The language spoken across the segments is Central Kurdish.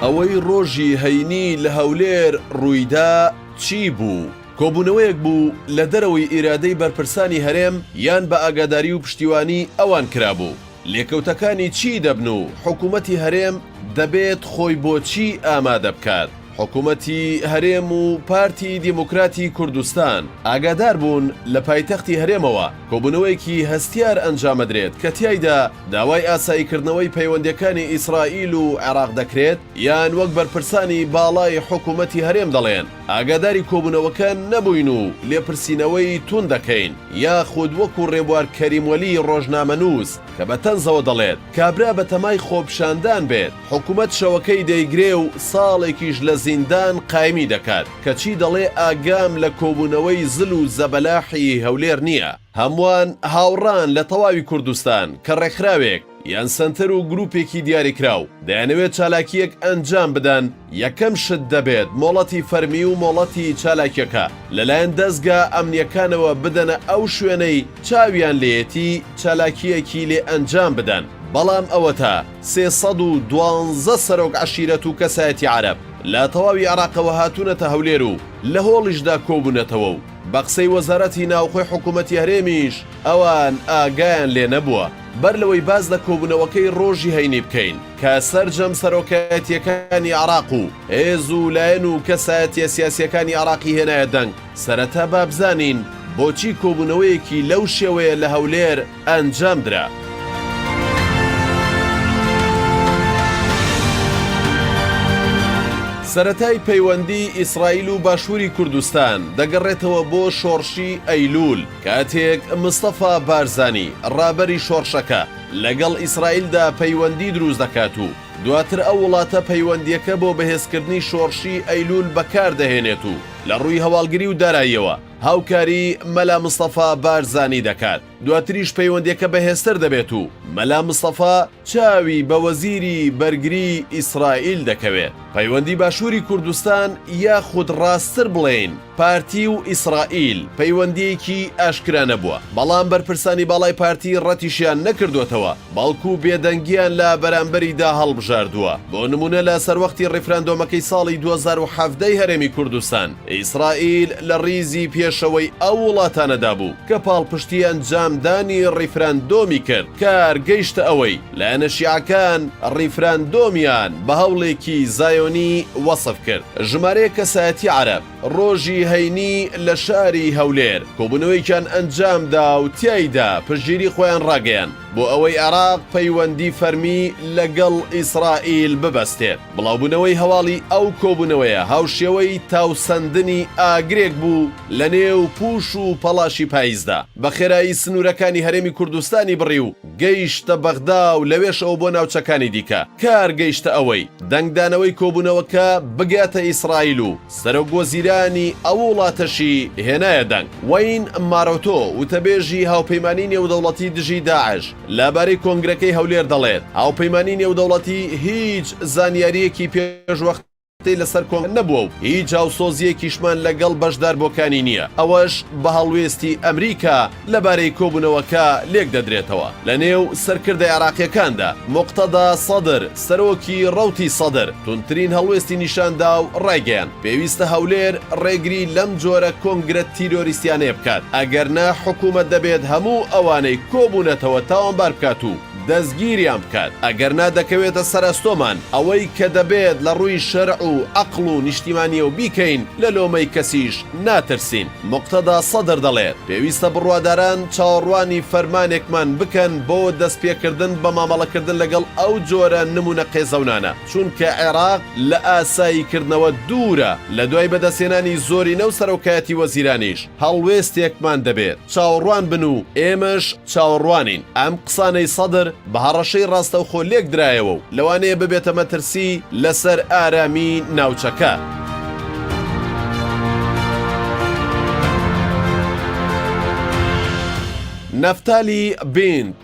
ئەوەی ڕۆژی هەینی لە هەولێر ڕوویدا چی بوو؟ کۆبوونەوەیەک بوو لە دەرەوەی ئیرادەی بەرپرسانی هەرێم یان بە ئاگاداری و پشتیوانی ئەوان کرابوو، لێکەوتەکانی چی دەبن و حکومەتی هەرێم دەبێت خۆی بۆ چی ئامادە بکات؟ حکومەتی هەرێم و پارتی دیموکراتی کوردستان ئاگادار بوون لە پایتەختی هەرێمەوە کۆبوونەوەیەکی هەستیار ئەنجامەدرێت کە تیایدا داوای ئاسایی کردنەوەی پەیوەندیەکانی ئیسرائیل و عێراق دەکرێت یان وەک بەرپرسانی باڵای حکومەتی هەرێم دەڵێن ئاگاداری کۆبوونەوەکە نەبووین و لێپرسینەوەی تووند دەکەین، یاخود وەکو رێبوار کەریم وەلی رۆژنامەنووس کە بە تەنزەوە دەڵێت، کابرا بە تەمای خۆپیشاندان بێت، حکومەت شەوەکەی دەیگرێ و ساڵێکیش لە زیندان قایمی دەکات، کەچی دەڵێ ئاگام لە کۆبوونەوەی زل و زەبەلاحی هەولێر نییە. هەمووان هاوڕان لە تەواوی کوردستان کە ڕێکخراوێک یان سەنتەر و گروپێکی دیاریکراو دەیانەوێت چالاکییەک ئەنجام بدەن، یەکەم شت دەبێت مۆڵەتی فەرمی و مۆڵەتی چالاکیەکە لەلایەن دەزگا ئەمنیەکانەوە بدەنە ئەو شوێنەی چاویان لێیەتی چالاکییەکی لێ ئەنجام بدەن، بەڵام ئەوەتا سێ سەد و دوازدە سەرۆک عەشیرەت و کەسایەتی عەرەب لە تەواوی عێراقەوە هاتوونەتە هەولێر و لە هۆڵیشدا کۆبوونەتەوە و. بە قسەی وەزارەتی ناوخۆی حکوومەتی هەرێمیش، ئەوان ئاگایان لێ نەبووە. بەر لەوەی باس لە کۆبوونەوەکەی ڕۆژی هەینی بکەین کە سەرجەم سەرۆکایەتییەکانی عێراق و هێز و لایەن و کەسایەتییە سیاسییەکانی عێراقی هێنایە دەنگ، سەرەتا با بزانین بۆچی کۆبوونەوەیەکی لەو شێوەیە لە هەولێر ئەنجام درا. سەرەتای پەیوەندیی ئیسرائیل و باشووری کوردستان دەگەڕێتەوە بۆ شۆڕشی ئەیلوول، کاتێک مستەفا بارزانی ڕابەری شۆڕشەکە لەگەڵ ئیسرائیلدا پەیوەندی دروست دەکات و دواتر ئەو وڵاتە پەیوەندییەکە بۆ بەهێزکردنی شۆڕشی ئەیلوول بەکاردەهێنێت و لە ڕووی هەواڵگری و داراییەوە هاوکاری مەلا مستەفا بارزانی دەکات، دواتریش پەیوەندیەکە بەهێزتر دەبێت و مەلا مستەفا چاوی بە وەزیری بەرگری ئیسرائیل دەکەوێت پەیوەندی باشوری کوردستان یاخود ڕاستتر بڵێین پارتی و ئیسرائیل پەیوەندیەکی ئاشکرا نەبووە بەڵام بەرپرسانی باڵای پارتی ڕەتیشیان نەکردۆتەوە بەڵکو بێدەنگییان لە بەرامبەریدا هەڵبژاردووە. بۆ نموونە لە سەروەختی ڕیفراندۆمەکەی ساڵی دوو هەزار و حەڤدە ی هەرێمی کوردستان، ئیسرائیل لە ڕیزی پێشەوەی ئەو وڵاتانەدا بوو کە پاڵپشتی ئەنجامدانی ڕیفراندۆمی کرد، کار گەیشتە ئەوەی لایەنە شیعەکان ڕیفراندۆمیان بە هەوڵێکی زایۆنی وەسف کرد. ژمارەیەک کەسایەتی عەرەب، ڕۆژی هەینی لە شاری هەولێر کۆبوونەوەیەکیان ئەنجامدا و تیایدا پشتگیری خۆیان ڕاگەیاند بۆ ئەوەی عێراق پەیوەندی فەرمی لەگەڵ ئیسرائیل ببەستێت. بڵاوبوونەوەی هەواڵی ئەو کۆبوونەوەیە هاوشێوەی تاوسەندنی ئاگرێک بوو لەنێو پووش و پەڵاشی پاییزدا، بەخێرایی سنوورەکانی هەرێمی کوردستانی بڕی و گەیشتە بەغدا و لەوێشەوە بۆ ناوچەکانی دیکە، کار گەیشتە ئەوەی دەنگدانەوەی کۆبوونەوەکە بگاتە ئیسرائیل و سەرۆک وەزیرانی ئەو وڵاتەشی هێنایە دەنگ. وەین مارۆتۆ، وتەبێژی هاوپەیمانیی نێودەوڵەتی دژی داعش لەبارەی کۆنگرەکەی هەولێر دەڵێت، هاوپەیمانیی نێودەوڵەتی هیچ زانیارییەکی پێشوەختە ی لەسەر کۆنگرە نەبووە و هیچ هاوسۆزییەکیشمان لەگەڵ بەشداربووەکانی نییە، ئەوەش بە هەڵوێستی ئەمریکا لەبارەی کۆبوونەوەکە لێکدەدرێتەوە لەنێو سەرکردە عێراقییەکاندا، موقتەدا سەدر، سەرۆکی ڕەوتی سەدر توندترین هەڵوێستی نیشاندا و ڕایگەیاند، پێویستە هەولێر ڕێگری لەم جۆرە کۆنگرە تیرۆریستیانەیە بکات، ئەگەرنا حکوومەت دەبێت هەموو ئەوانەی کۆبوونەتەوە تاوانبار بکات و. دەستگیریان بکات ئەگەر نا دەکەوێتە سەر ئەستۆمان، ئەوەی کە دەبێت لە ڕووی شەرع و ئەقڵ و نیشتیمانیەوە بیکەین لە لۆمەی کەسیش ناترسین. موقتەدا سەدر دەڵێت، پێویستە بڕواداران چاوەڕوانی فەرمانێکمان بکەن بۆ دەستپێکردن بە مامەڵەکردن لەگەڵ ئەو جۆرە نموونە قێزەونانە، چونکە عێراق لە ئاساییکردنەوە دوورە، لەدوای بەدەستهێنانی زۆرینە و سەرۆکایەتی وەزیرانیش، هەڵوێستێکمان دەبێت چاوەڕوان بن و ئێمەش چاوەڕوانین. ئەم قسانەی سەدر بە هەڕەشەی ڕاستەوخۆ لێک درایەوە و لەوانەیە ببێتە مەترسی لەسەر ئارامیی ناوچەکە. نەفتالی بینت،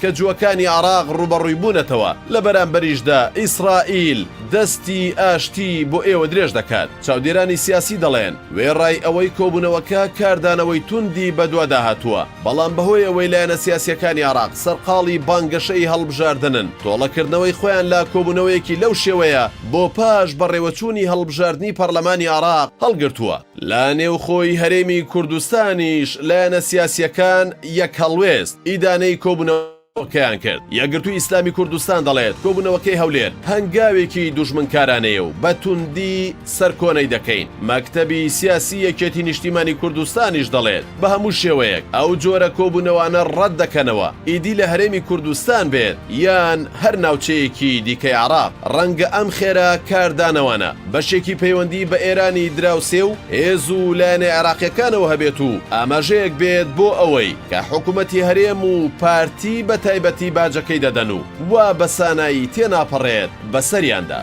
کە جووەکانی عێراق ڕووبەڕووی بوونەتەوە، لە بەرامبەریشدا ئیسرائیل دەستی ئاشتی بۆ ئێوە درێژ دەکات. چاودێرانی سیاسی دەڵێن، وێڕای ئەوەی کۆبوونەوەکە کاردانەوەی توندی بەدوادا هاتووە، بەڵام بەهۆی ئەوەی لایەنە سیاسییەکانی عێراق سەرقاڵی بانگەشەی هەڵبژاردنن، تۆڵەکردنەوەی خۆیان لە کۆبوونەوەیەکی لەو شێوەیە بۆ پاش بەڕێوەچوونی هەڵبژاردنی پەرلەمانی عێراق هەڵگرتووە. لە نێوخۆی هەرێمی کوردستانیش لایەنە سیاسییەکان یەک هەڵوێست ئیدانەی کۆبوونەوەکەیان کرد. یەکگرتووی ئیسلامی کوردستان دەڵێت، کۆبوونەوەکەی هەولێر هەنگاوێکی دوژمنکارانەیە و بە توندی سەرکۆنەی دەکەین. مەکتەبی سیاسی یەکێتی نیشتیمانی کوردستانیش دەڵێت، بە هەموو شێوەیەک ئەو جۆرە کۆبوونەوانە ڕەت دەکەنەوە، ئیدی لە هەرێمی کوردستان بێت یان هەر ناوچەیەکی دیکەی عێراق، ڕەنگە ئەم خێرا کاردانەوانە. بەشێکی پەیوەندی بە ئێرانی دراوسێ و هێز و لایەنە عێراقییەکانەوە هەبێت و ئاماژەیەک بێت بۆ ئەوەی کە حکومەتی هەرێم و پارتی بە تایبەتی باجەکەی دەدەن و وا بە سانایی تێناپەڕێت بە سەریاندا.